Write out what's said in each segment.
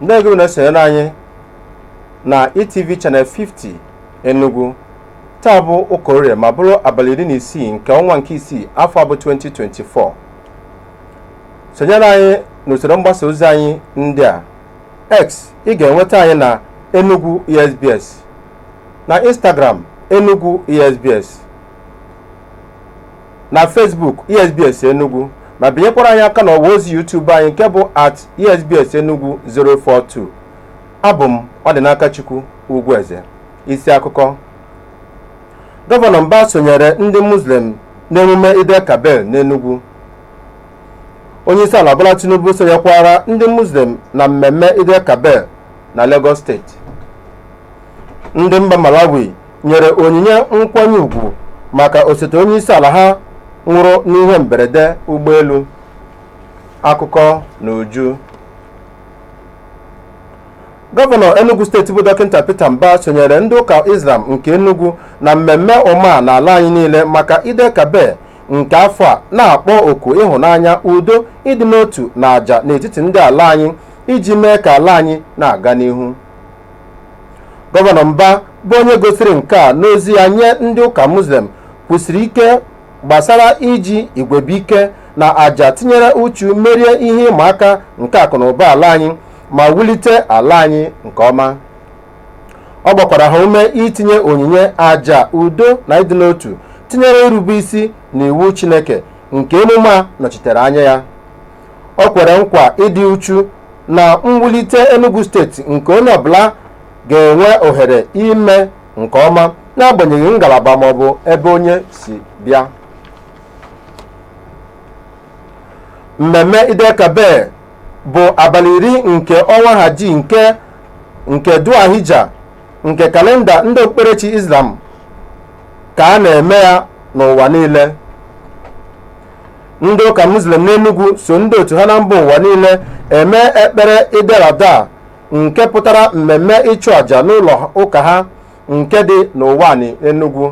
ndeewo na-esonyere anyị na ETV Channel 50 Enugu taa bụ ụka orie ma bụrụ abalị iri na isii nke ọnwa nke isii afọ a bụ 2024 sonyere anyị n'usoro mgbasa ozi anyị ndị a x ị ga-enweta anyị na enugu esbs na instagram enugu esbs na Facebook ESBS Enugu ma binyekwara anyị aka n'ọwa ozi YouTube anyị nke bụ at ESBS Enugu 042 abụ m Ọdịnakachukwu Ugwueze isi akụkọ gọvanọ Mbah sonyere ndị Muslim n'emume Eid-el-Kabir n'Enugu onyeisiala Bola Tinubu sonyekwara ndị Muslim na mmemme Eid-el-Kabir na Lagos steeti ndị mba Malawi nyere onyinye nkwanye ugwu maka osote onye isi ala ha nwụrụ n'ihe mberede ụgbọelu akụkọ n'uju gọvanọ enugu steeti bụ dọkịta peter mbah sonyere ndị ụka islam nke enugu na mmemme ummah n'ala anyị niile maka eid-el-kabir nke afọ a na-akpọ oku ịhụnanya udo ịdị n'otu na àjà n'etiti ndị ala anyị iji mee ka ala anyị na-aga n'ihu gọvanọ mbah bụ onye gosiri nke a n'ozi ya nye ndị ụka muslim kwusiri ike gbasara iji igwebuike na àjà tinyere uchu merie ihe ịma aka nke akụnụba ala anyị ma wulite ala anyị nke ọma ọ gbakwara ha ume itinye onyinye àjà udo na ịdị n'otu tinyere irube isi n'iwu chineke nke emume a nọchitere anya ya o kwere nkwa ịdị uchu na mwulite Enugu steeti nke onye ọbụla ga-enwe ohere ime nke ọma n'agbanyeghị ngalaba maọbụ ebe onye si bịa mmemme eid-el-kabir bụ abalị iri nke ọnwa haji nke nke dhul-hijjah nke kalenda ndị okpukperechi islam ka a na-eme ya n'ụwa niile ndị ụka muslim n'enugwu so ndị otu ha na mba ụwa niile eme ekpere eid-el-adha nke pụtara mmemme ịchụ àjà n'ụlọ ụka ha nke dị n'ụwanị enugwu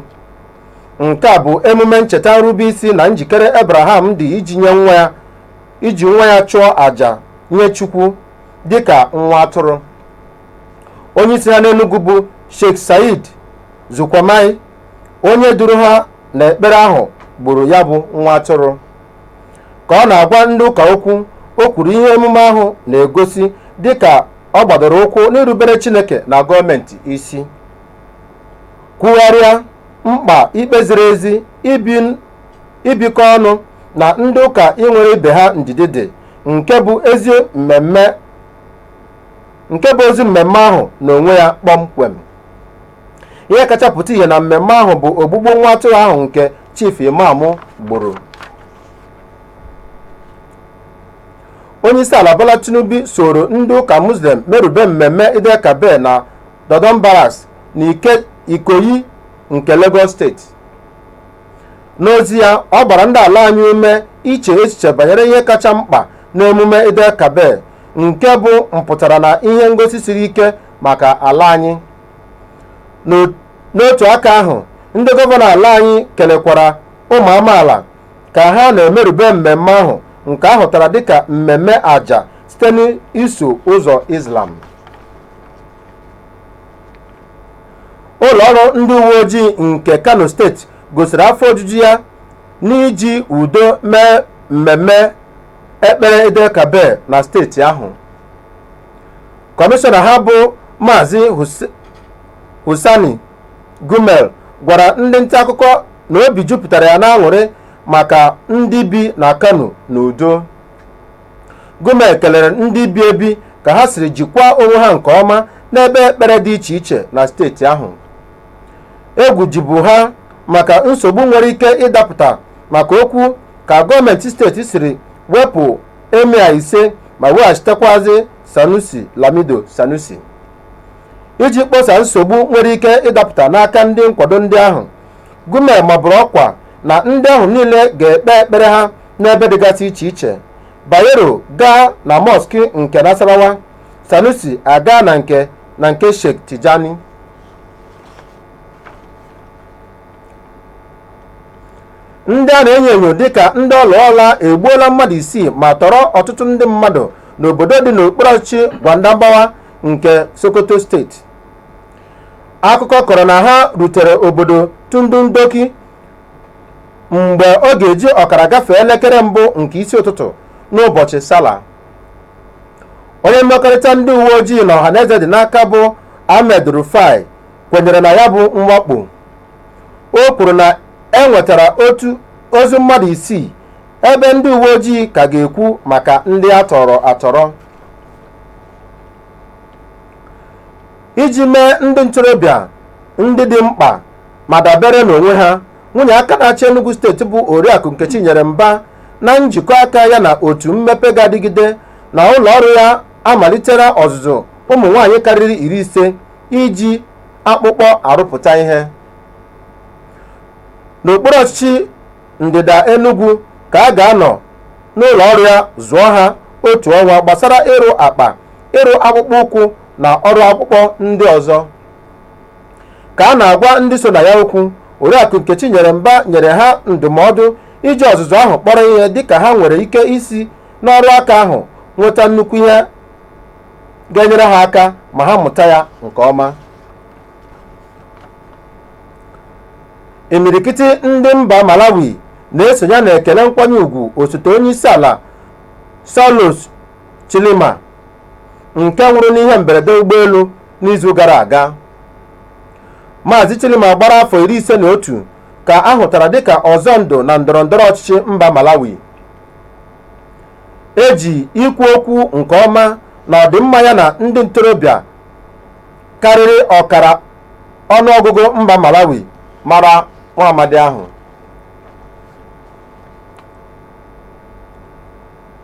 nke a bụ emume ncheta nrube isi na njikere abraham dị iji nye nwa ya iji nwa ya chụọ àjà nye chukwu dịka nwa atụrụ onye isi ha n'enugwu bụ sheikh said zulkarnain onye duru ha n'ekpere ahụ gburu ya bụ nwa atụrụ ka ọ na-agwa ndị ụka okwu o kwuru ihe emume ahụ na-egosi dịka ọ gbadoro ụkwụ n'irubere Chineke na gọọmenti isi kwugharịa mkpa ikpe ziri ezi ibikọ ọnụ na ndị ụka inwere ibe ha ndidi dị nke bụ ozi mmemme ahụ n'onwe ya kpọmkwem ihe kacha pụta ihe na mmemme ahụ bụ ogbugbu nwa atụrụ ahụ nke chief imam gburu onye isi ala bola tinubu soro ndị ụka muslim merube mmemme eid-el-kabir na dodan barracks na ikoyi nke lagos steeti n'ozi ya ọ gbara ndị ala anyị ume iche echiche banyere ihe kacha mkpa n'emume eid-el-kabir nke bụ mpụtara na ihe ngosi siri ike maka ala anyị N'otu aka ahụ ndị gọvanọ ala anyị kelekwara ụmụ amaala ka ha na-emerube mmemme ahụ nke a hụtara dịka mmemme aja site n'iso ụzọ Islam ụlọọrụ ndị uwe ojii nke Kano steeti gosiri afọ ojuju ya n'iji udo mee mmemme ekpere Eid-el-Kabir na steeti ahụ kọmishọna ha bụ maazị hussaini gumel gwara ndị nta akụkọ na obi jupụtara ya n'aṅụrị maka ndị bi na kano n'udo gumel kelere ndị bi ebi ka ha siri jikwaa onwe ha nke ọma n'ebe ekpere dị iche iche na steeti ahụ egwu jibu ha maka nsogbu nwere ike ịdapụta maka okwu ka gọọmenti steeti siri wepụ emir ise ma weghachitekwazi sanusi lamido sanusi iji kposa nsogbu nwere ike ịdapụta n'aka ndị nkwado ndị ahụ gumel maburu ọkwa na ndị ahụ niile ga-ekpe ekpere ha n'ebe dịgasị iche iche bayero gaa na mọski nke nasarawa sanusi agaa na nke na nke sheikh tijani ndị a na-enyo enyo dịka ndị ọlụọla egbuola mmadụ isii ma tọrọ ọtụtụ ndị mmadụ n'obodo dị n'okpuru ọchịchị gwadabawa nke sokoto steeti akụkọ kọrọ na ha rutere obodo tudun doki mgbe ọ ga-eji ọkara gafee elekere mbụ nke isi ụtụtụ n'ụbọchị sallah onye mmekọrịta ndị uwe ojii na ọhaneze dị n'aka bụ ahmed rufai kwenyere na ya bụ mwakpo o kwuru na e nwetara otu ozu mmadụ isii ebe ndị uwe ojii ka ga-ekwu maka ndị a tọrọ atọrọ iji mee ndị ntorobịa ndị dị mkpa ma dabere n'onwe ha nwunye aka na-achị Enugu steeti bụ Oriakụ Nkechinyere Mba na njikọ aka ya na otu mmepe ga-adịgide na ụlọ ọrụ ya amalitela ọzụzụ ụmụ nwaanyị karịrị iri ise iji akpụkpọ arụpụta ihe n'okpuru ọchịchị ndịda Enugu ka a ga-anọ n'ụlọ ọrụ ya zụọ ha otu ọnwa gbasara ịrụ akpa ịrụ akpụkpọ ụkwụ na ọrụ akpụkpọ ndị ọzọ ka a na-agwa ndị so na ya okwu oriakụ nkechinyere mba nyere ha ndụmọdụ iji ọzụzụ ahụ kpọrọ ihe dịka ha nwere ike isi n'ọrụ aka ahụ nweta nnukwu ihe ga-enyere ha aka ma ha mụta ya nke ọma imirikiti ndị mba malawi na-esonye na ekele nkwanye ugwu osote onye isi ala saulos chilima nke nwụrụ n'ihe mberede ụgbọelu n'izu gara aga maazị chilima gbara afọ iri ise na otu ka a hụtara dịka ọzọ ndụ na ndọrọndọrọ ọchịchị mba malawi e ji ikwu okwu nke ọma na ọdịmma ya na ndị ntorobịa karịrị ọkara ọnụọgụgụ mba Malawi mara nwa amadi ahụ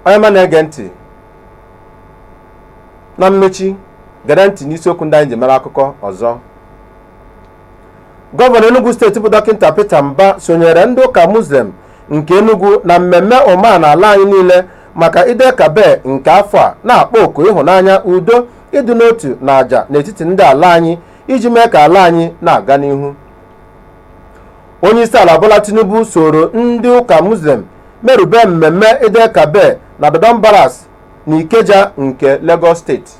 onye ọma na-ege ntị na mmechi gere ntị n'isiokwu ndị anyị ji mere akụkọ ọzọ gọvanọ Enugu steeti bụ dọkịta Peter Mba sonyere ndị ụka Muslim nke Enugu na mmemme Ummah na ala anyị niile maka Eid-el-Kabir nke afọ a na-akpọ oku ịhụnanya udo ịdị n'otu na aja n'etiti ndị ala anyị iji mee ka ala anyị na-aga n'ihu onye isi ala Bola Tinubu soro ndị ụka Muslim merube mmemme Eid-el-Kabir na Dodan Barracks na Ikeja nke Lagos steeti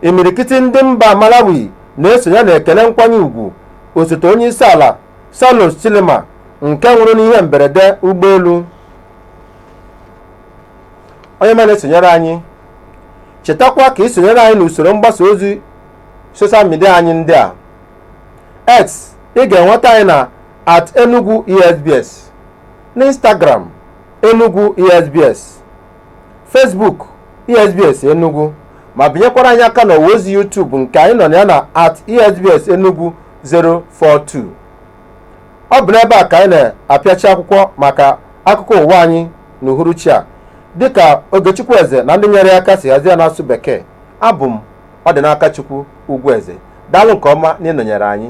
imirikiti ndị mba malawi na-esonye na ekele nkwanye ugwu osote onye isi ala saulos chilima nke nwụrụ n'ihe mberede ụgbọelu onye ọma na-esonyere anyị chetakwa ka i sonyere anyị n'usoro mgbasa ozi soshal midia anyị ndị a x ị ga-enweta anyị na at enugu esbs n'instagram enugu esbs Facebook esbs enugu ma binyekwara anyị aka n'ọwa ozi YouTube nke anyị nọ na ya na at esbs enugu 042 ọ bụ n'ebe a ka anyị na-apịachi akwụkwọ maka akụkọ ụwa anyị n'uhuruchi a dịka Ogechukwu Eze na ndị nyere ya aka si hazie n'asụsụ Bekee abụ m Ọdịnakachukwu Ugwueze daalụ nke ọma na ịnọnyere anyị